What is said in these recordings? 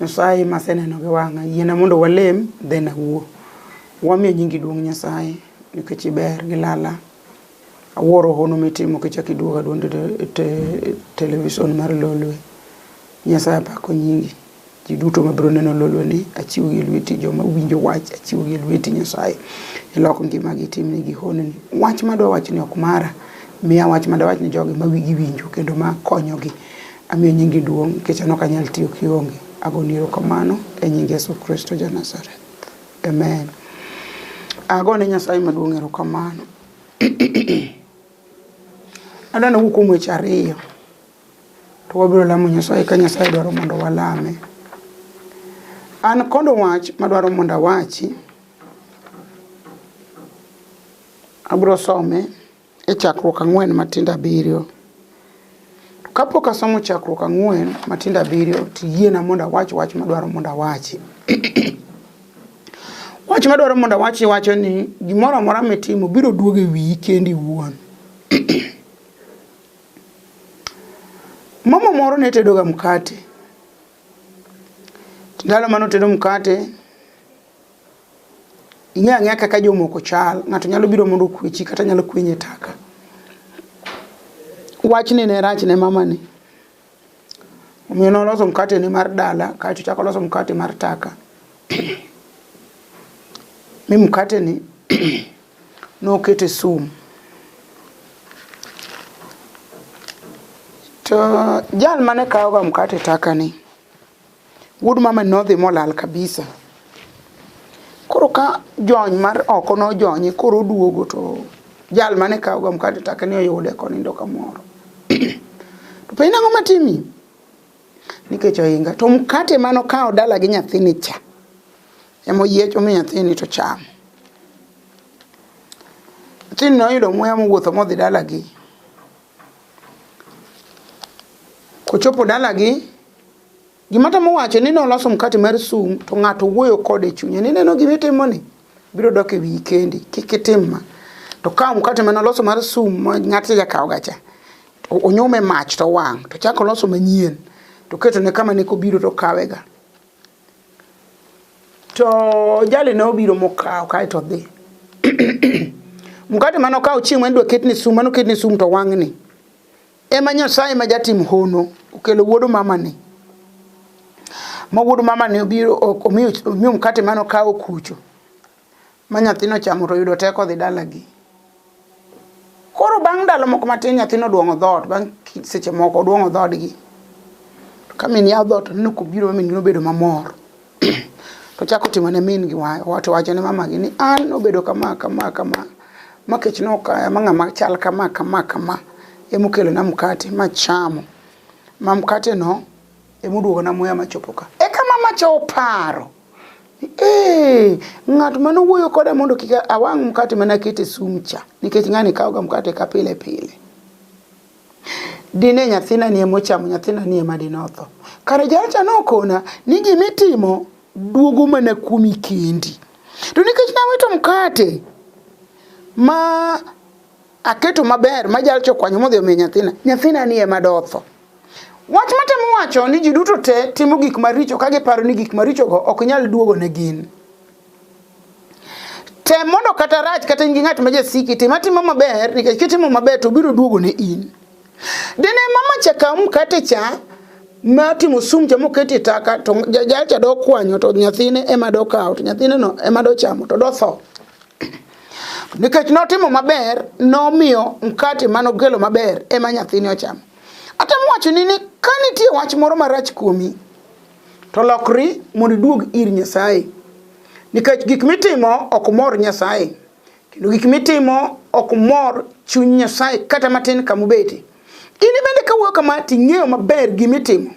Nyasaye maseneno gi wang'a, yiena mondo walem, then awuo. Wamiyo nyingi duong' Nyasaye, nikech iber gi lala. Awuoro hono mitimo kichak iduoga duond e te- television mar Lolwe. Nyasaye apako nyingi. Ji duto mabiro neno Lolwe ni, achiwogi e lweti. Joma winjo wach, achiwogi e lweti Nyasaye. Ilok ngimagi, itimnegi honni. Wach madwa wachoni ok mara. Miya wach madawach ni jogi ma wigi winjo kendo ma konyogi. Amiyo nyingi duong' nikech an ok anyal tiyo kionge. Agoni erokamano e nying Yesu Kristo ja Nazareth. Amen. Agone Nyasaye maduong' erokamano. Adwa nawuo kuom weche ariyo to wabiro lamo Nyasaye ka Nyasaye dwaro mondo walame. An kod wach madwaro mondo awachi, abiro some. e chakruok ang'wen matindo abiriyo. To kapok asomo chakruok ang'wen matindo abiriyo to yiena mondo awach wach madwaro mondo awachi. wach madwaro mondo awachi wacho ni gimoro amora mitimo biro duogo e wiyi kendi iwuon. Mama moro ne tedoga mkate. Ndalo mane otedo mkate, ing'e ang'eya kaka jomoko chal ng'ato nyalo biro mondo okwechi kata nyalo kwenye taka wachni ne rach ne mamani omiyo noloso mkate ne mar dala kaeto chako loso mkate mar taka mi mkate ni nokete sum to jal mane kawoga mkate taka ni Wuod mama nodhi molal kabisa. Koro ka jony mar oko nojonye koro oduogo to jal mane kawoga mkate take ni oyude konindo kamoro. to penj ang'o matimi? Nikech ohinga. To mkate mano kawo dala gi nyathini cha. Emoyiecho mi nyathini to chamo. Nyathini noyudo muya mowuotho modhi dalagi. Kochopo dalagi, gima tamo wacho ni noloso mkate mar sum to ng'ato wuoyo kode e chunye ni neno gima itimoni biro dok e wiyi kendi kik itim ma to kawo mkate mane oloso mar sum ma ng'atni jakawoga cha to onyume mach to wang' to chako oloso manyien to ketone kama ne kobiro to kawega. to jali ne obiro mokawo kae to dhi mkate mane okawo chieng' mane dwa ketni sum mane oketni sum to wang'ni ema nyasaye ma jatim hono okelo wuod mamani ma wuod mamani obiro omiyo mkate mane okawo kucho ma nyathino chamo to oyudo teko odhi dalagi. Koro bang' ndalo moko matin nyathino oduong'o dhoot, bang' seche moko oduong'o dhoodgi. To ka min yawo dhoot oneno kobiro ma min gi nobedo mamor. to ochako timo ne min gi wach, to owacho ne mamagi ni an nobedo kama kama kama ma kech nokaya ma ng'ama chal kama kama kama ema okelona mkate machamo. Ma mkateno ema oduogona muya machopo ka. Eka mamacha oparo. Ee, ng'at ma nowuoyo koda mondo kik awang' mkate ma naketo e sumcha, nikech ng'ani kawoga mkate ka pile pile. Dine nyathina ni ema ochamo, nyathina ni ema dine otho. Kare jalacha nokona ni gima itimo duogo mana kuomi kendi. To nikech naweto mkate ma aketo maber ma jal chokwanyo modhi omiyo nyathina nyathina ni ema dotho wach matemo wacho ni ji duto te timo gik maricho ka giparo ni gik marichogo ok nyal duogo ne gin tem mondo kata rach kata in gi ng'at ma jasiki tim atimo maber nikech kitimo maber to biro duogo ne in dine mama cha kaw mkate cha ma timo sum cha mokete taka to jal cha do kwanyo to nyathine ema do kawo to nyathine no ema do chamo to do tho Nikech notimo maber, nomiyo mkate mane ogelo maber ema nyathini ochamo. Atemo wachoni ni ka nitie wach moro marach kuomi, to lokri mondo iduog ir Nyasaye. Nikech gik mitimo ok mor Nyasaye, kendo gik mitimo ok mor chuny Nyasaye kata matin kamubete. In bende ka wuoyo kama to ing'eyo maber gima itimo.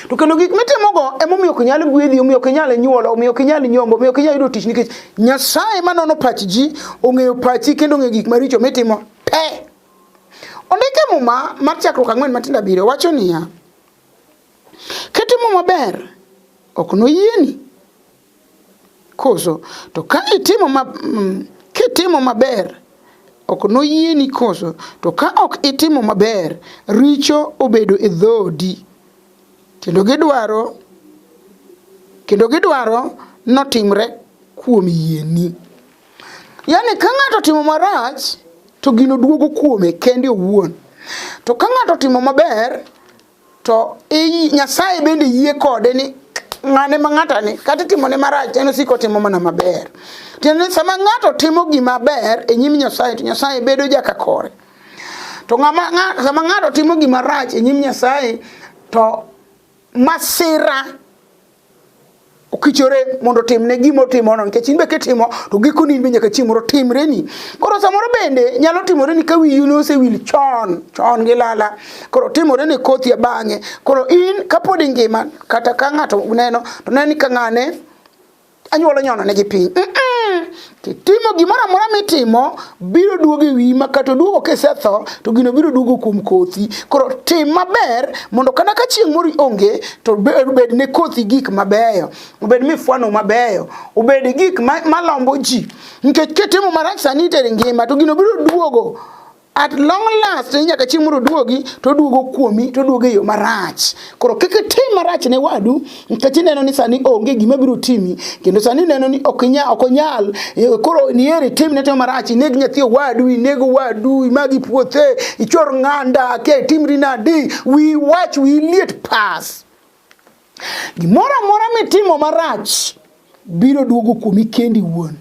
To kendo gik mitimogo emomiyo ok nyal gwedhi, omiyo ok nyal nyuolo, omiyo ok nyal nyombo, omiyo ok nyal yudo tich nikech Nyasaye ma nono pach ji ong'eyo pachi kendo ong'eyo gik maricho mitimo te. Ondike muma mar chakruok ang'wen matindo abiriyo wacho niya, kitimo maber ok noyieni Koso to ka itimo ma, mm, kitimo maber ok noyieni koso to ka ok itimo maber richo obedo e dhodi kendo gidwaro kendo gidwaro notimre kuom yieni yani ka ng'ato timo marach to gino duogo kuome kende owuon to ka ng'ato timo maber to i nyasaye bende yie kode ni ng'ane ma ng'ata ni kata itimone marach en osiko timo mana maber tiende ni sama ng'ato timo gima ber e nyim nyasaye to nyasaye bedo jaka kore to ng'ama ng'a- sama ng'ato timo gima rach e nyim nyasaye to masira okichore mondo timne gima otimono nikech in be kitimo to gikoni in be nyaka chieng' moro timreni koro samoro bende nyalo timoreni ka wiyi nosewil chon chon gi lala koro timoreni kothi bang'e koro in kapod ingima kata ka ng'ato neno to neni ka ng'ane anyuola nyono ne gi piny mm -mm. Timo gimoro amora mitimo biro duogo e wiyi ma kata oduogo kisetho to gino biro duogo kuom kothi. Koro tim maber mondo kata ka chieng' moro onge to obed ne kothi gik mabeyo, obed mifwano mabeyo, obed gik malombo ji. Nikech kitimo marach sani itere ngima to gino biro duogo at long last ni nyaka chieng' mondo oduogi to oduogo kuomi to oduogo e yo marach koro kik itim marach ne wadu nikech ineno ni sani onge gima biro timi kendo sani ineno ni ok inya ok onyal eh, koro nieri tim ne timo marach ineg nyathi owadu ineg owadu imagi puothe ichor ng'anda ke timri nadi wi wach wi liet pass Gimoro amora mitimo marach biro duogo kuomi kendi wuon.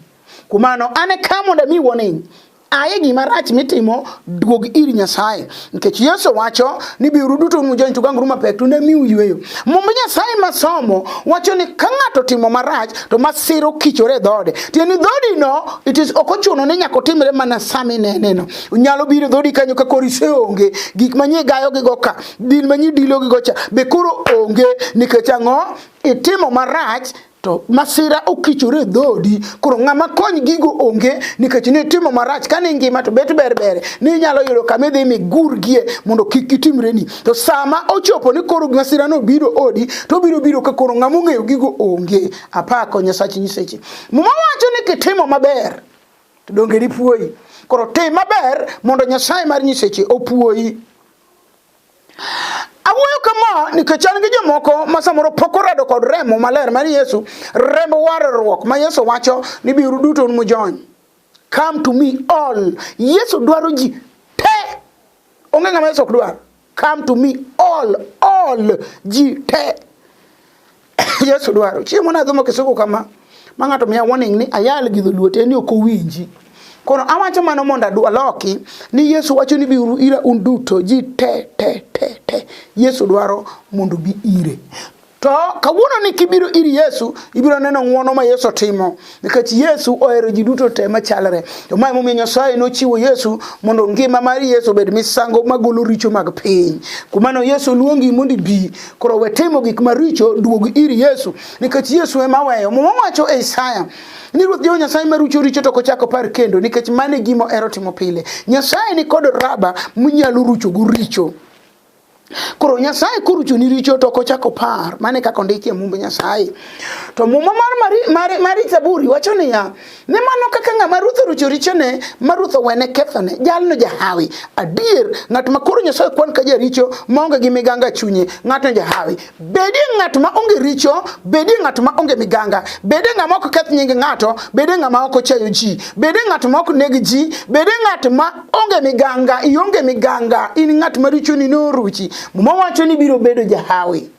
Kuom mano an e ka mondo ami warning aye gima rach mitimo duog ir nyasaye nikech yesu wacho ni biuru duto unu jony to ganguru mapek to ne miu yweyo mumb nyasaye masomo wacho ni ka ng'ato timo marach to masiro kichore e dhode tieni dhodino it is ok ochuno ni nyaka otimre mana sami neneno nyalo biro dhodi kanyo ka kori seonge gik manyie gayogigo ka Din ma nyidilo gi gocha be koro onge nikech ang'o? Itimo marach to masira okichore e dhodi koro ng'ama kony gigo onge nikech ni timo marach kane ngima to bet ber ber ni inyalo yudo kama idhi migurgie mondo kik gitimreni to sama ochopo ni koro masira no biro odi to biro biro ka koro ng'ama ong'eyo gigo onge apako nyasachi nyiseche muma wacho ni kitimo maber to donge dipuoyi koro tim maber mondo nyasaye mar nyiseche opuoyi Awuoyo kama nikech an gi jomoko ma samoro pok orado kod remo maler mar Yesu, remb warruok ma Yesu wacho ni biuru duto un mujony. Come to me all. Yesu dwaro ji te. Onge ng'ama Yesu ok dwar. Come to me all, all ji te. Yesu dwaro. Chiemo na dhumo kisuko kama. Ma ng'ato miya warning ni ayal gi dholuo te ni ok owinji. Kono awacho mano mondo adwa loki ni Yesu wacho ni biuru ira un duto ji te te te te. Yesu dwaro mondo bi ire. To kawuono ni kibiro ir Yesu, ibiro neno ng'wono ma Yesu timo. nikech yesu ohero ji duto te machalre to ma emomiyo nyasaye nochiwo yesu mondo ngima mar yesu obed misango magolo richo mag piny kumano yesu luongi mondo ibi koro we timo gik maricho duog ir yesu nikech yesu ema weyo muma wacho e isaya ni ruoth jehova nyasaye marucho richo to kochako par kendo nikech mano e gima ohero timo pile nyasaye ni kod raba munyalo ruchogo richo Koro Nyasaye korucho ni richo to kochako par, mane kaka ondiki e mumb Nyasaye. To muma mar mari, mari, mari Zaburi wacho niya, ne mano kaka ng'ama ruth orucho richone, ma ruth owene kethone, jalno jahawi. Adier, ng'at ma koro Nyasaye kwan ka jaricho, maonge gi miganga e chunye, ng'atno jahawi. Bedie ng'at ma onge richo, bedie ng'at ma onge miganga, bedie ng'ama ok keth nying ng'ato, bedie ng'ama ok ochayo ji, bedie ng'at ma ok neg ji, bedie ng'at ma onge miganga, ionge miganga, in ng'at ma richoni noruchi. Muma wacho ni biro bedo jahawi.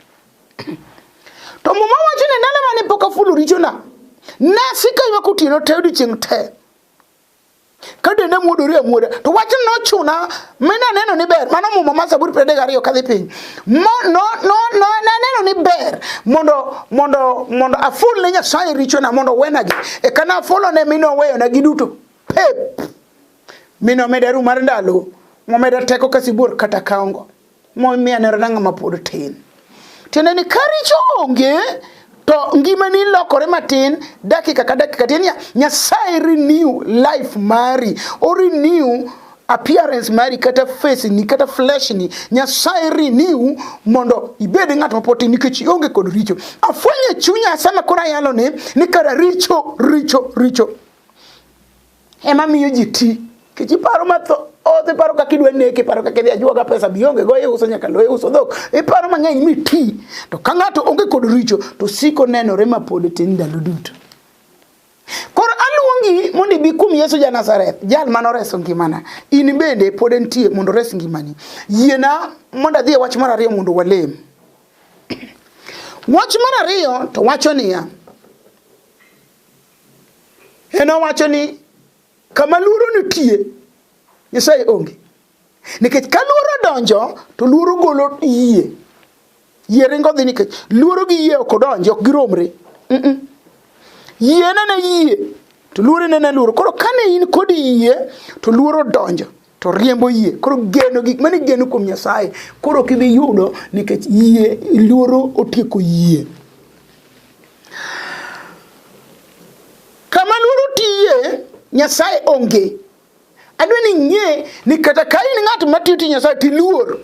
To muma wacho ni ndalo mane pok afulo richona, nasika ywak otieno te odiechieng' te. ka dende muodore amuoda to wachno nochuna mi naneno ni ber mano muma ma zaburi piero adek gariyo kadhi piny naneno ni ber mondo mondo mondo aful ne nyasaye richona mondo owenagi eka nafolone mi noweyona giduto pep mi nomeda ru mar ndalo momeda teko ka sibuor kata kaongo Mianero na ng'ama pod tin. Tiende ni ka richo onge to ngimani lokore matin dakika ka dakika tiende niya Nyasaye renew life mari o renew appearance mari kata face ni kata flesh ni nyasaye renew mondo ibed ng'at mapoti nikech ionge kod richo afwenye chunya sama koro ayalo ni ni kara richo richo richo ema miyo ji ti kech iparo matho oth iparo kaka idwa neke iparo kaka idhi ajuoga pesa bionge go iuso nyaka lo iuso dhok iparo mang'eny mi ti to ka ng'ato onge kod richo to siko nenore ma pod tin ndalo duto koro aluongi mondo ibi kuom yesu ja nazareth jal mane oreso ngimana in bende pod entie mondo ores ngimani yiena mondo adhi e wach mar ariyo mondo walem wach mar ariyo to wacho niya en owacho ni kama luoro nitie nyasaye onge nikech ka luoro donjo to luoro golo yie yie ringo dhi nikech luoro gi yie ok odonji ok giromre mm -mm. yie nene yie to luoro nene luoro koro kane in kod yie to luoro donjo to riembo yie koro geno gik mane geno kuom nyasaye koro ok idhi yudo nikech yie luoro otieko yie kama luoro tiye nyasaye onge adwa ni ing'e ni kata ka in ng'at matiyo ti nyasaye tiluor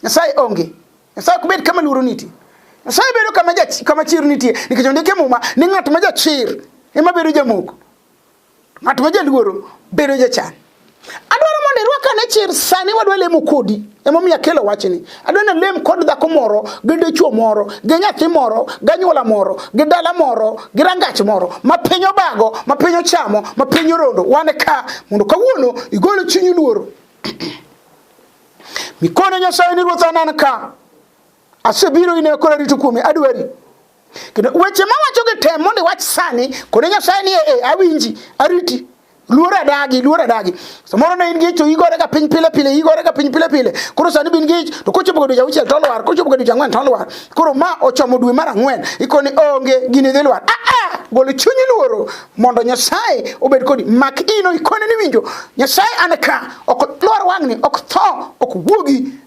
nyasaye onge nyasaye ok bed kama luoro nitie nyasaye bedo kama, kama chir nitie nikech ondike muma ni ng'at ma jachir ema bedo jamoko Ng'at ma jaluoro bedo jachan. Adwaro mondo irwaka ne chir sani wadwa lemo kodi. Emomiyo akelo wachni. Adwa ni lem kod dhako moro, gi dichwo moro, gi nyathi moro, gi anyuola moro, gi dala moro, gi rangach moro, ma piny obago, ma piny ochamo, ma piny orondo. Wan ka mondo kawuono igol chunyi luoro. Mikone Nyasaye ni ruoth anan ka. Asebiro ine koro arito kuome adwari. Kendo weche ma wacho gi tem mondo iwach sani, kone Nyasaye ni e, e awinji, ariti. Luor adagi, luor adagi. Samoro ne in gi to igore ka piny pile pile, igore ka piny pile pile. Koro sani bin gi to kochopo godo jawuchiel to lwar, kochopo godo jangwen to lwar. Koro ma ochomo dwe mar ang'wen, ikoni onge gini dhi lwar. Ah ah, golo chunyi luoro mondo Nyasaye obed kodi. Mak ino ikone ni winjo. Nyasaye an ka, ok lwar wang'ni, ok tho, ok wuogi.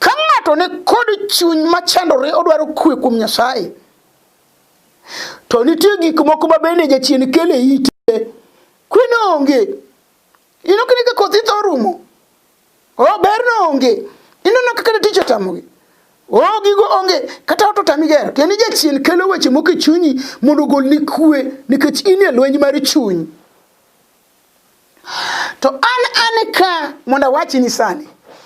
Ka ng'ato ni kod chuny machandore odwaro kwe kuom Nyasaye, to nitie gik moko ma bende jachien kele ite, kwe no onge. Ino kini ka kothi tho rumo, o ber no onge. Ino no kaka tich otamogi. O gigo onge, kata ot otami gero. Tieni jachien kelo weche moko e chunyi mondo ogolni kwe nikech inie lweny mar chuny. To an an ka mondo awachi ni sani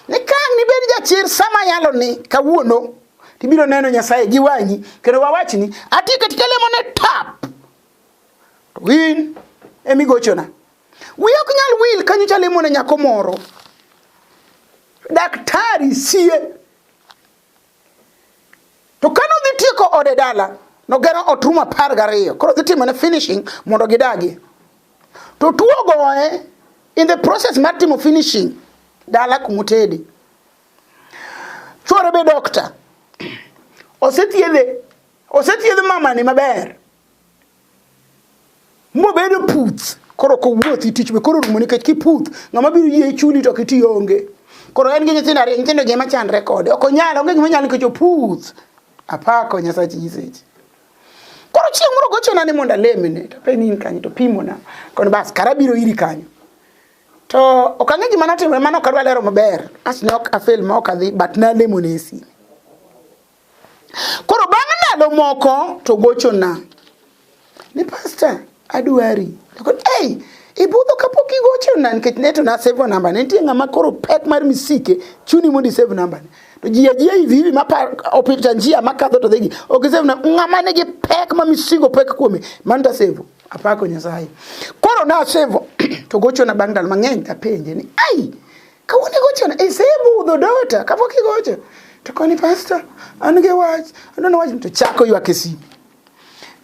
ni ka ang' nibed jachir sama yalo ni kawuono tibiro neno Nyasaye gi wang'i kendo wawachi ni ati katika lemo ne tap to in emi gochona wiya ok nyal wil kanyo chalemo ne nyako moro daktari sie To ka nodhi tieko ode dala, nogero ot rum apar gariyo. Koro dhi timo ne finishing mondo gidagi. To tuo goye in the process mar timo finishing dala kumutedi. Chuore be doctor. Osethiedhe. Osethiedhe mamani maber. mobedo puth koro kowuothi tich be koro rumo nikech kiputh ng'ama biro yie chuli to kiti onge koro en gi nyithindo ariyo nyithindo gi ema chandre kode ok onyal onge gima nyal nikech oputh apako nyasachi nyiseche koro chieng' moro gochona ni mondo alemene to pe ni in kanyo to pimona kono bas kara biro iri kanyo to ok ang'e gima notimore mano ok adwa lero maber as ne ok afel ma ok adhi but nalemone e sime Koro bang' ndalo moko to gochona ni pasta adwari. Nakono, hey, ibudho kapok igochona nikech ne to nasave namba ne nitie ng'ama koro pek mar misike chuni mondo isave namba ne to ji ajiya hivi hivi mapar opita njia makadho to dhigi ok isave namba ng'ama nigi pek ma misigo pek kuome mano to asave apako nyasaye koro nasave to gochona bang' ndalo mang'eny apenje ni ai Kawuono igochona, isebudho dota kapok igocho. To koni pastor, an gi wach, adwani wach to chako ywak e simu.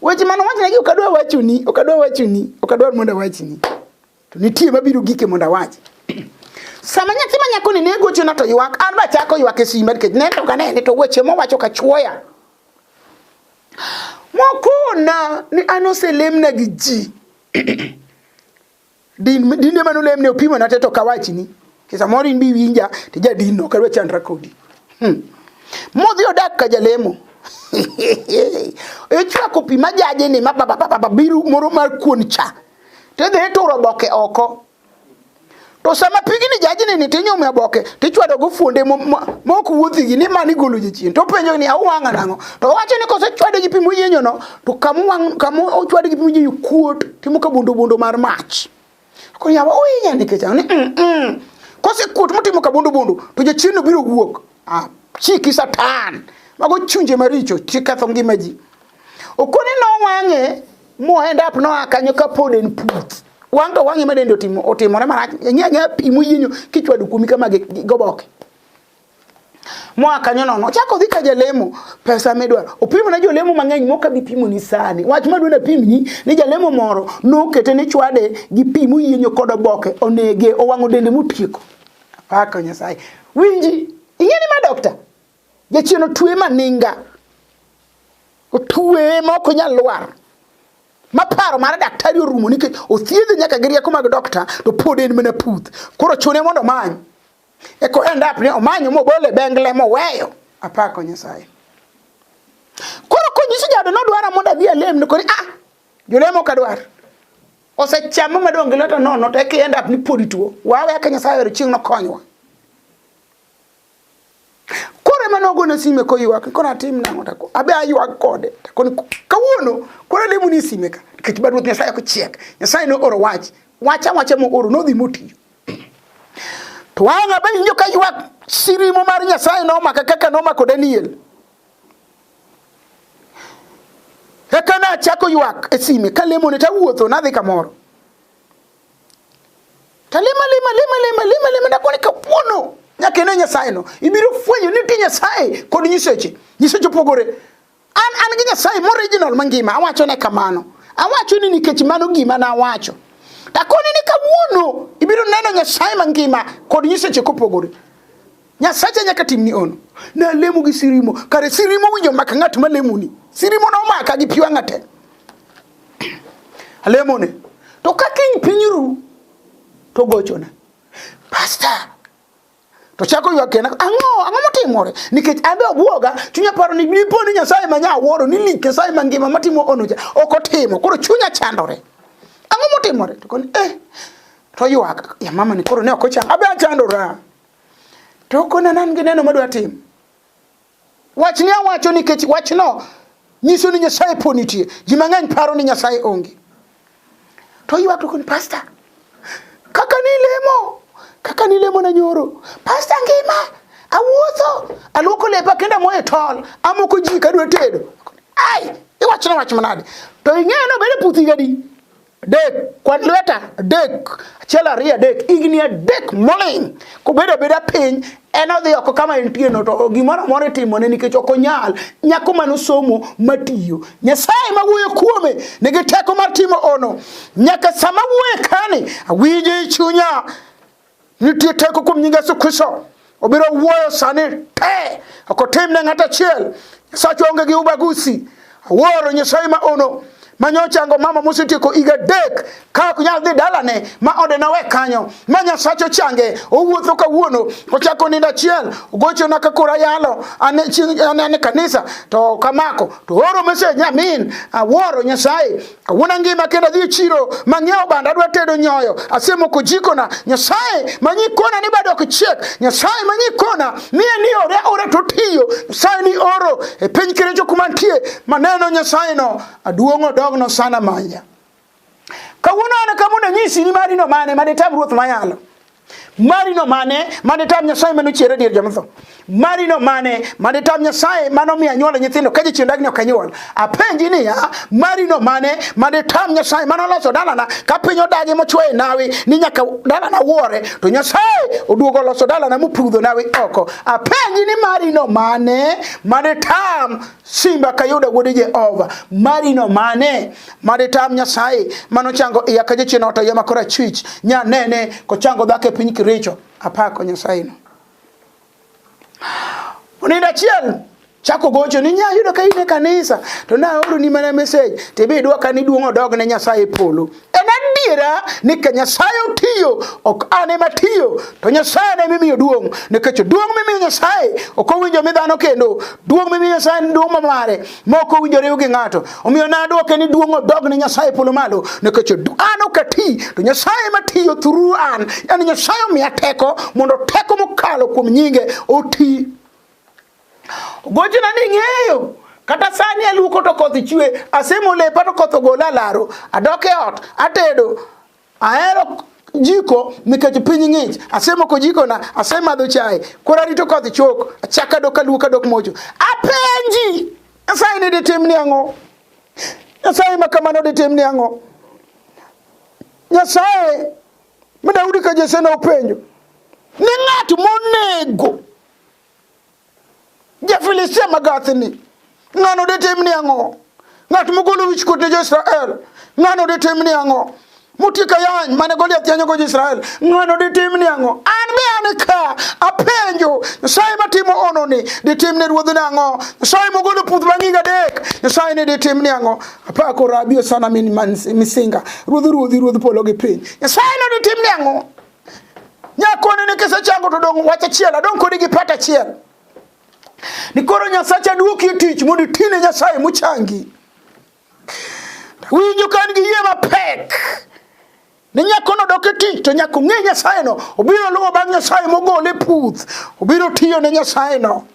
Weche mane wachna gi ok adwa wachoni, ok adwa wachoni, ok adwa mondo awachni. To nitie mabiro gike mondo awach. Sama nyathi ma nyakoni ne gochona to ywak, an ba chako ywak e simu nikech ne to kanene to weche mowacho ka chuoya. Mokona ni an oselemna gi ji. Din dinde mane olemne opimo na teto kawachni. Kisa moro in bi winja to jadin no kadwa chandra kodi. Hmm. Modhi odak ka jalemo. Ichwako pi majaje ni mababa biru moro mar kuon cha. Te dhi turo boke oko. To sama pigni jajni ni tinyume aboke tichwado go fuonde mok wuothi gi ni mani golo jachien to penjo ni awanga nango to wacho ni kose chwado gi pimo yenyo no to kamu kamu ochwado gi pimo yenyo kuot Timo ka bundo bundo mar mach. Ko yawa ohinya nikech ang'o ni mm, mm. kosekuot motimo ka bundo bundo to jachiendno biro wuok. Ah, chiki satan. Mago chunje maricho chiketho ngima ji. Okoni nowang'e mohend up noa kanyo ka pod en puth. Wang' to wang'e ma dende otimo otimore marach. Nyanya pi moyienyo kichwado kuomi kama gi gi- goboke. moa kanyo nono ochako odhi ka jalemo pesa midwaro opimo ne jolemo mang'eny mok abi pimo ni sani wach madwani apimni ni jalemo moro nokete ni chwade gi pi moyienyo kod oboke onege owang'o dende motieko apako nyasaye winji ing'eni ma dokta jachien otwe maninga otwe ma ok onyal lwar ma paro mar daktari orumo nikech othiedhe nyaka gi rieko mag dokta to pod en mana puth koro chune mondo omany Eko end up ni omanyo mobolo e bengle moweyo. Apako Nyasaye. Koro konyiso jaoda nodwara mondo adhi alem ni koni ah jolemo kadwar. Osechamo madong' gi lota nono to eka end up ni podi tuo. Wawe aka Nyasaye oyudo chieng' nokonywa. Koro ema nogona sime koywak koro atim nang'o tako abe aywak kode takoni kawuono koro alemo ni sime ka nikech bad ruoth Nyasaye ok chiek. Nyasaye ne oro wach wacha wacha mooro nodhi motiyo. To wang' abewinjo ka ywak sirimo mar Nyasaye nomaka kaka nomako Daniel. Eka nachako ywak e sime kalemone tawuotho nadhi kamoro. Talima lima lima lima lima lima nakone kawuono nyaka ine Nyasaye no. Ibiro fwenyo ni nitie Nyasaye kod nyiseche. Nyiseche opogore. An an gi Nyasaye moriginal mangima, awacho ne kamano. Awacho ni nikech mano gima na awacho. Takoni ni kawuono ibiro neno Nyasaye mangima kod nyiseche kopogore. Nyasacha nyaka timni ono. Na lemo gi sirimo. Kare sirimo winjo maka ng'at ma lemoni. Sirimo na omaka gi piwa ng'ate. Alemone. To ka kiny piny ru to gochona. Pastor, to chako ywak kena ang'o ang'o motimore nikech abe obwoga chunya paro ni dipo ni nyasaye ma nyawuoro ni lik nyasaye mangima matimo onocha ok otimo koro chunya chandore ang'o motimore to koni eh to ywak ya mama ni koro ne ok ochang abe achandora to kona nan gi neno madwa timo Wach ni awacho nikech wachno nyiso ni Nyasaye po nitie. Ji mang'eny paro ni Nyasaye onge. To ywak to koni pasta. Kaka ni lemo, kaka ni lemo na nyoro. Pasta ngima, awuotho, aluoko lepa kenda moye tol, amoko ji kadwa tedo. Ai, iwachna wach manade. To ing'eyo no bende puthi gadi. dek kwad lweta dek achiel ariyo adek igni adek moling kobedo abeda piny en odhi oko kama entieno to gimoro amora itimone nikech ok onyal nyako mane osomo matiyo nyasaye ma wuoyo kuome nigi teko mar timo ono nyaka sama wuoye kani awinjo i chunya Nitie teko kuom nying Yesu Kristo. Obiro wuoyo sani te. Ok otim ne ng'ato achiel. Nyasacho onge gi ubagusi. Awuoro Nyasaye ma ono ma nyochango mama mosetieko higa adek ka ok nyal dhi dalane ma ode nawe kanyo ma nyasacho change owuotho kawuono ochako nindo achiel ogochona ka koro ayalo ane chieng- ane ane kanisa to kamako to oro message nyamin awuoro nyasaye Kawuono angima kendo adhi e chiro mang'iewo bando adwa tedo nyoyo. Asemoko jikona. Nyasaye ma nyikona ni bado ok chiek. Nyasaye ma nyikona ni en ni ore ore to tiyo. Nyasaye ni oro e piny kerecho kuma nitie maneno Nyasaye no aduong' odogno sana manya. Kawuono an kama unanyisi ni mari no mane mane tam ruoth mayalo. Marino mane mane tam Nyasaye mane ochiere dier joma tho? Marino mane mane tam Nyasaye mane omiyo anyuola nyithindo ka jachien dagni ok anyuol? Apenji niya, marino mane mane tam Nyasaye mane oloso dalana ka piny odagi mochwoye nawi ni nyaka dalana wuore to Nyasaye oduogo oloso dalana mopudho nawi oko. Apenji ni marino mane mane tam Simba kayudo wuod Jehova marino mane made tam Nyasaye manochango iya ka jachien ot ayema kora chwich nya nene kochango dhako e piny kiricho apako Nyasaye no Onindo achiel chako gocho ni nya yudo ka in e kanisa to na oro ni mana message to be idwa ka ni duong odog ne Nyasaye e polo En adiera ni ka Nyasaye otiyo, ok an ema tiyo, to Nyasaye ne mimiyo duong', nikech duong' mimiyo Nyasaye ok owinjo mi dhano kendo, duong' mimiyo Nyasaye en duong' mamare, ma ok owinjo riw gi ng'ato. Omiyo nadwoke ni duong' odog ne Nyasaye polo malo, nikech an ok ati, to Nyasaye ema tiyo through an. En Nyasaye omiya teko mondo teko mokalo kuom nyinge oti Gochna ni ng'eyo kata sani aluoko to koth chwe asemo lepa to koth ogola laro adok e ot atedo ahero jiko nikech piny ng'ich asemoko jikona asemadho chae koro arito koth chok achaka dok aluoka dok mocho apenji nyasaye ni ditim ni ang'o nyasaye ma kamano ditim ni ang'o nyasaye ma daudi ka jese ne openjo ni ng'at monego Ja-Filistia magathni, ng'ano detim ni ang'o? Ng'at mogolo wichkuot ne jo-Israel, ng'ano detim ni ang'o? Motieko ayany mane Goliath yanyogo jo-Israel, ng'ano detim ni ang'o? An be an ka apenjo, Nyasaye matimo hononi detim ne ruodhne ang'o? Nyasaye mogolo puth bang' higa adek, Nyasaye ne detim ni ang'o? Apako rabi osana min man- misinga, ruodh ruodhi, ruodh polo gi piny. Nyasaye ne detim ni ang'o? Nyakoni ni kisechango to dong' wach achiel, adong' kodi gi pat achiel. Ni koro Nyasacha duoki e tich mondo itine Nyasaye mochangi. Winjo ka an gi yie mapek ni nyakono dok e tich to nyaka ong'e nyasayeno obiro luwo bang' nyasaye mogole puth obiro tiyo ne nyasayeno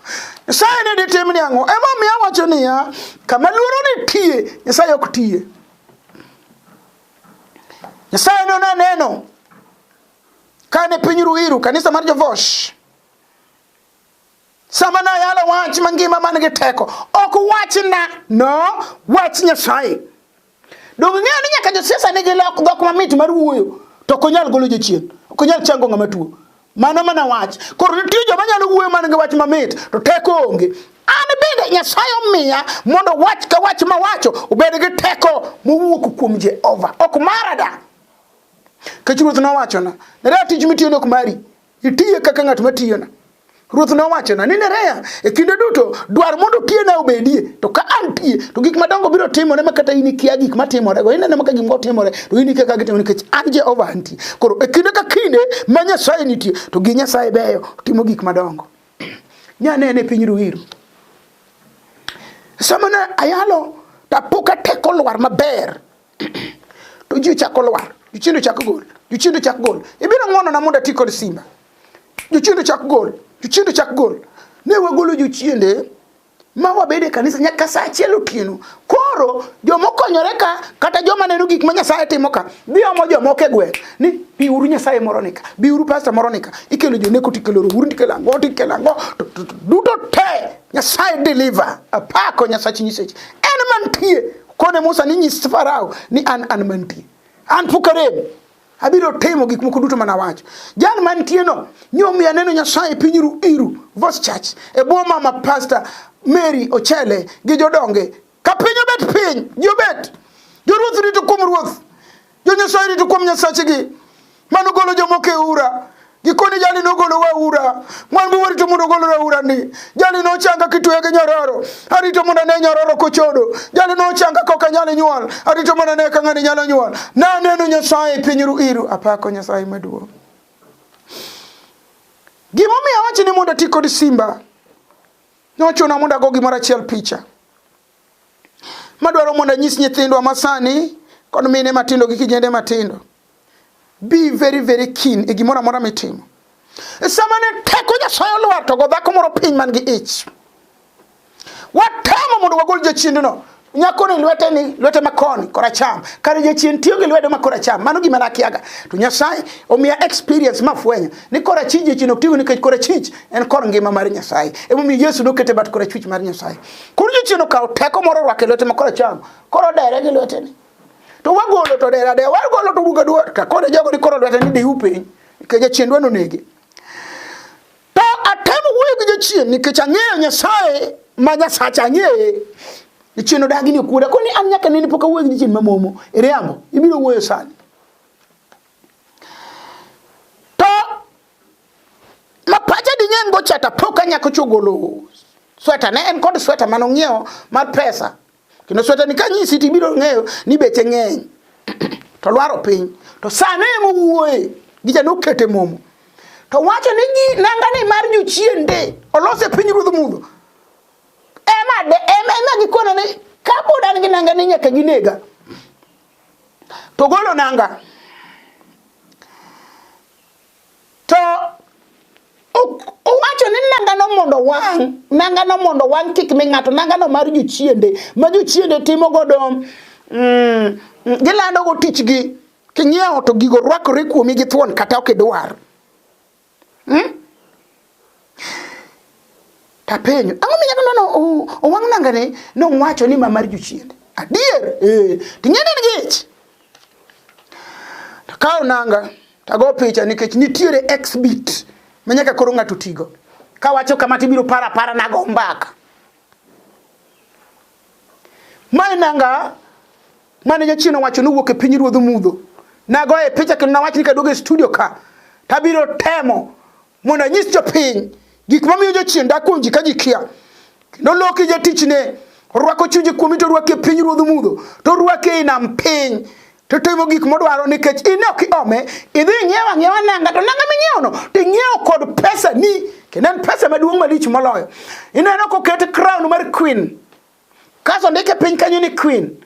nyasaye ne ditim ni ang'o emomiyo awacho niya kama luoro nitie nyasaye ok tiye Nyasaye ne onaneno kane piny ruiru kanisa mar jovosh sama nayalo wach mangima man gi teko ok wachna no wach nyasaye donge ng'eyo ni nyaka josiasa nigi lok dhok mamit mar wuoyo to ok onyal golo jochien ok onyal chango ng'ama tuo Mano mana wach. Koro nitie joma nyalo wuoyo man gi wach mamit to teko onge. An bende Nyasaye omiya mondo wach ka wach mawacho obed gi teko mowuok kuom Jehova. Ok mara da. Kech Ruoth nowachona, Nerea tich mitiyo nok mari. Itiye kaka ng'at matiyona. Ruoth nowachona ni Nerea, e kinde duto dwar mondo tiyena obedie, to ka an tiye, to gik madongo biro timore ma kata in ikia gik matimorego. Ineno ma ka gimoro timore, to in ikia ka gitimore nikech an Jehova antie. Koro e kinde ka kinde ma Nyasaye nitie to gi Nyasaye beyo timo gik madongo. Nyanene e piny Ruiru. Sama ne ayalo to apoka teko lwar maber to ji ochako lwar jochiende ochako gol jochiende ochako gol ibiro ng'wonona mondo ati kod simba jochiende ochako gol jochiende ochako gol ne wagolo jochiende ma wabede kanisa nyaka saa achiel otieno koro joma okonyore ka kata joma neno gik ma nyasaye timo ka biomo jomoko e gweng' ni biuru nyasaye moro nika biuru pasta moro nika ikelo joneko tikelo rouru tikelo ango tikelo ango duto te nyasaye deliver apako nyasach nyiseche en mantie kone musa ni nyis farao ni an an mantie an pok arem abiro timo gik moko duto mana wacho jal mantie no nyomi aneno nyasaye piny ru iru vos church e bwo mama pastor mary ochele gi jodonge ka piny obet piny ji obet joruoth rito kuom ruoth jonyasaye rito kuom nyasachegi mano golo jomoko e ura gikone jali nogolo waura mwan bi warito mondo ogol waura ni jali nochanga kitweya gi nyororo arito mondo ane nyororo kochodo jali nochanga kok anyal nyuol arito mondo ane ka ng'ani nyalo nyuol naneno nyasaye piny ru iru apako nyasaye maduong' gimomiyo awachi ni mondo ati kod simba nochuna mondo ago gimoro achiel picha madwaro mondo anyis nyithindwa masani kod mine matindo gi kijende matindo be very very keen e gimoro amora mitimo e sama ne teko nyasaye olwar to go dhako moro piny man gi ich watamo mondo wagol jachiendno nyako ni lwete ni lwete makoni koracham kare jachien tiyo gi lwedo ma koracham mano gima nakiaga to nyasaye omiya experience mafwenyo ni korachich jachien ok tigo nikech korachich en kor ngima mar nyasaye emomiyo yesu nokete bat korachwich mar nyasaye Koro jochieno kawo teko moro orwako e lwete ma koro cham. Koro dere gi lwete ni. To wagolo to dere dere, wagolo to wuga duor. Ka koro jogo ni koro lwete ni diu piny. Ke jachien dwano nege. To atemo wuoyo gi jachien nikech ang'eyo Nyasaye ma Nyasach ang'eye. Jachien odagi ni okuoda. Koni an nyaka nene pok awuoyo gi jachien mamomo. Iriambo. Ibiro wuoyo sani. ma pacha di ng'eny go chata pok anyako chogolo sweta ne en kod sweta mano ng'iewo mar pesa kendo sweta ni kanyisi to ibiro ng'eyo ni beche ng'eny to lwaro piny to sane ema owuoye gicha nokete momo to wacho ni gi nanga ni mar jochien de olose piny ruodh mudho ema de ema ema gikona ni ka pod an gi nanga ni nyaka ginega to golo nanga To owacho ni nangano mondo wang', nangano mondo wang' kik mi ng'ato, nangano mar jochiende, ma jochiende timo godo, mm, gilando go tichgi, king'iewo to gigo rwakore kuomi gi thuon kata ok idwar. Hmm? Tapenyo, ang'o mi nyakono no owang' nangane nowacho ni ma mar jochiende? Adier, eh, ting'eni ni gich. Takawo nanga, tago picha nikech nitiere exhibit ma nyaka koro ng'ato tigo. Kawacho kama tibiro para para nago mbaka. Mae nanga mane jachien owacho nowuok e piny ruodh mudho. Nagoye picha kendo nawach ni kaduogo e studio ka tabiro temo mondo anyis jopiny gik mamiyo jochien dak kuom ji ka ji kia kendo loki jatichne orwako chunje kuomi to orwake piny ruodh mudho to orwake ei nam piny to timo gik modwaro nikech in ok iome idhi ing'iewo ang'iewa nanga to nanga ming'iewono to ing'iewo kod pesa ni kendo en pesa maduong' malich moloyo ineno koket crown mar queen Kaso ndike piny kanyo ni queen.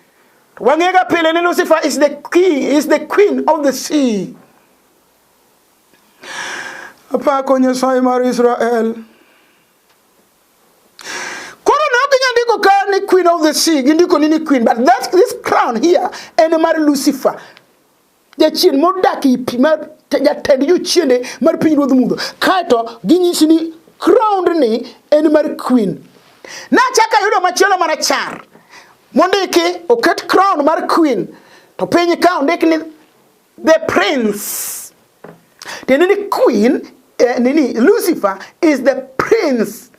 Wang'ega pile ni Lucifer is the king, is the queen of the sea. Apako Nyasaye mar Israel. Koro ne ok inyal ndiko ka ni queen of the sea, gindiko ni ni queen, but that, this crown here en mar Lucifer. jachien modak e pi mar jatend jochiende mar piny ruodh mudho kaeto ginyisi ni crowned ni en mar queen nachako ayudo machielo marachar mondiki oket crown mar queen to piny ka ondik ni the prince tiende ni queen eh, nini lucifer is the prince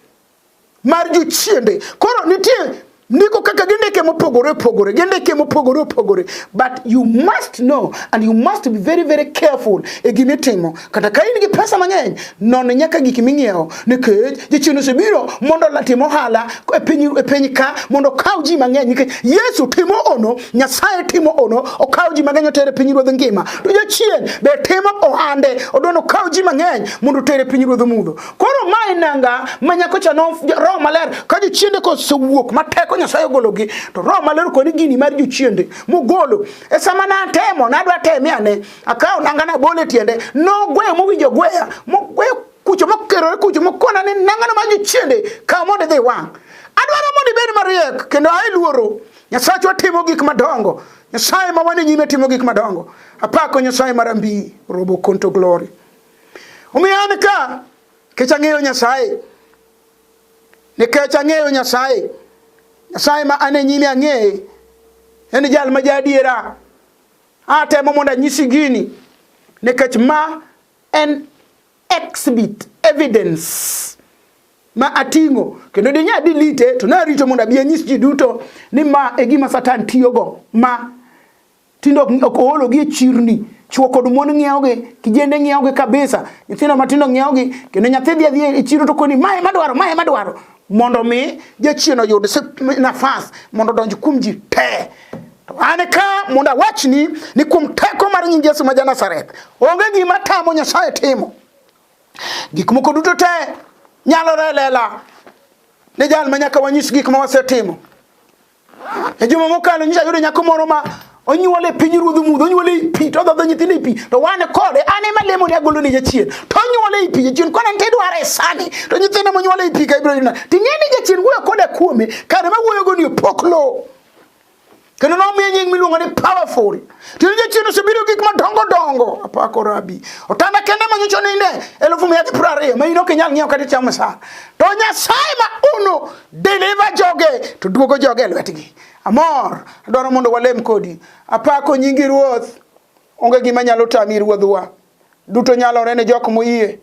mar jochiende koro nitie ndiko kaka gindike mopogore opogore gindike mopogore opogore but you must know and you must be very very careful e gima itimo kata ka in gi pesa mang'eny non nyaka gik ming'iewo nikech jachien osebiro mondo latim ohala e piny e piny ka mondo okaw ji mang'eny nikech yesu timo ono nyasaye timo ono okaw ji mang'eny otere piny ruodh ngima to jachien be timo ohande odwano okaw ji mang'eny mondo otere piny ruodh mudho koro ma e nanga ma nyakocha no roho maler ka jochiende kosewuok ma teko nyasaye ogologi to roho maler koni gini mar jochiende mogolo e sama natemo nadwa teme ane akawo nanga nabole tiende nogweyo mowinjo gweya mogweyo kucho mokerore kucho mokona ni nangano ma jochiende kawo mondo idhi wang' adwaro mondo ibed mariek kendo ae luoro nyasachwa timo gik madongo nyasaye ma wane nyime timo gik madongo apako nyasaye marambi robo konto glory Omiyo an ka nikech ang'eyo Nyasaye, nikech ang'eyo Nyasaye, Nyasaye ma an e nyime ang'eye, en jal ma jaadiera. Atemo mondo anyisi gini nikech ma en exhibit evidence ma ating'o kendo dinya dilite to narito mondo abi anyis ji duto ni ma e gima Satan tiyogo ma Tindo ok oologi e chirni, chwo kod mon ng'iewogi, kijende ng'iewogi kabisa, nyithindo matindo ng'iewogi, kendo nyathi dhi adhi e chiro to koni mae madwaro, mae madwaro, mondo mi jachien oyud nafas mondo odonj kuom ji te. To an ka mondo awachni ni kuom teko mar nying Yesu ma ja Nazareth, onge gima tamo Nyasaye timo. Gik moko duto te nyalore lela ne jal ma nyaka wanyis gik ma wasetimo. E juma mokalo nyicha yudo nyako moro ma onyuole piny ruodh mudho onyuole i pi to odhodho nyithindo i pi to wan kode an ema lemo ne agolo ne jachien to onyuole i pi jachien kone nte dware sani to nyithindo monyuole i pi ka ibiro yuna to ing'e ni jachien wuoyo koda kuome kare ma wuoyogo ni opok lowo kendo nomiye nying miluongo ni powerful tino jachien osebiro gik madongo dongo apako rabi otanda kende manyocho ninde elufu mia gi piero ariyo ma in ok inyal ng'iewo kata ichamo sara to nyasaye ma uno deliver joge to duogo joge e lwetgi amor adwaro mondo walem kodi apako nyingi ruoth onge gima nyalo tami ruodhwa duto nyalore ne jok moyie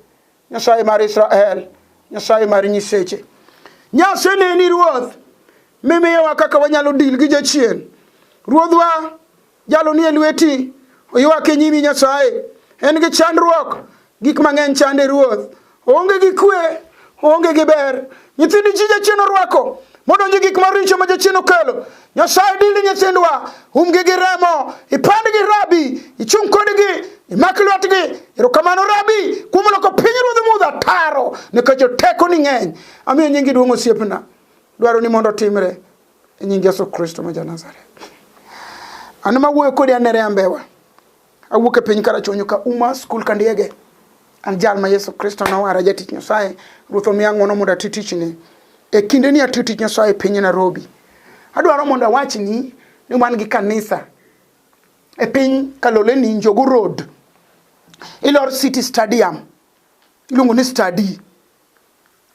nyasaye mar israel nyasaye mar nyiseche nyase neni ruoth mimiyowa kaka wanyalo dil gi jachien ruodhwa Jalo nie lweti, oywak e nyimi Nyasaye. En gi chandruok, gik mang'eny chande ruoth. Oonge gi kwe, oonge gi ber. Nyithindi chi jachien orwako, modonjo gik maricho ma jachien okelo. Nyasaye dili nyithindwa, umgi gi remo, ipandgi rabi, ichung' kodgi, imak lwetgi. Erokamano rabi, kuom loko piny ruodh mudho ataro, nikech oteko ni ng'eny. Amiyo nyingi duong' osiepna. Dwaro ni mondo otimre. e nying yesu kristo ma janazareth an ma wuoyo kodi anere ambewa awuok e piny karachonyo ka uma skul ka ndiege an jal ma yesu kristo nowara jatich nyasaye ruoth omiya ng'wono mondo ati tichne e kinde ni atiyo tich nyasaye e piny nairobi adwaro mondo awachni ni wan gi kanisa e piny kaloleni njogu road ilor city stadium iluongo ni stadi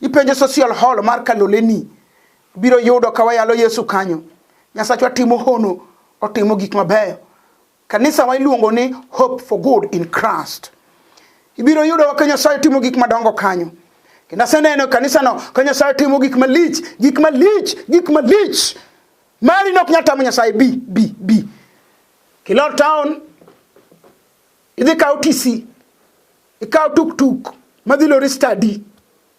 Ipenjo social hall mar Kaloleni biro yudo ka wayalo Yesu kanyo. Nyasachwa timo hono, otimo gik mabeyo. Kanisa wa iluongo ni Hope for Good in Christ. Ibiro yudo ka Nyasaye timo gik madongo kanyo. Kendo aseneno kanisano ka Nyasaye timo gik malich, gik malich, gik malich. Mari nok nyatamo Nyasaye bi bi bi. Kilot town Idhi kawo TC, ikawo tuktuk madhi lori study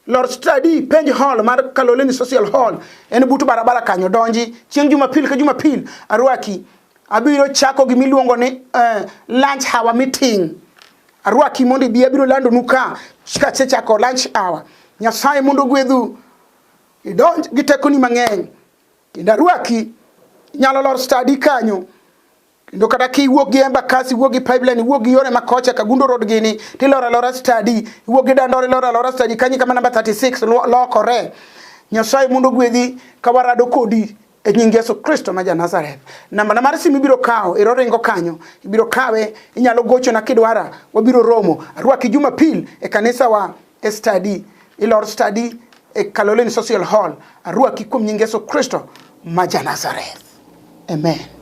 lor study penj hall mar Kaloleni Social Hall en butu barabara kanyo donji chieng' Jumapil ka Jumapil arwaki abiro chako gi miluongo ni uh, lunch hour meeting arwaki mondo ibi abiro lando nu ka kasechako lunch hour nyasaye mondo gwedhu idonj gi tekoni mang'eny kendo arwaki nyalo lor stadi kanyo kendo kata kiwuok gi embakasi iwuok gi pipeline iwuok gi yore makocha kagundo road gini tiloro alora stadi iwuok gi dandore iloro alora stadi kanyi kama namba 36 lokore nyasaye mondo gwedhi ka warado kodi e nying yesu kristo ma janazareth nambana mar simu ibiro kawo ero ringo kanyo ibiro kawe inyalo gochona kidwara wabiro romo arwaki jumapil e kanisawa e study ilor study e Kaloleni Social Hall arwaki kuom nying Yesu Kristo ma ja Nazareth. Amen.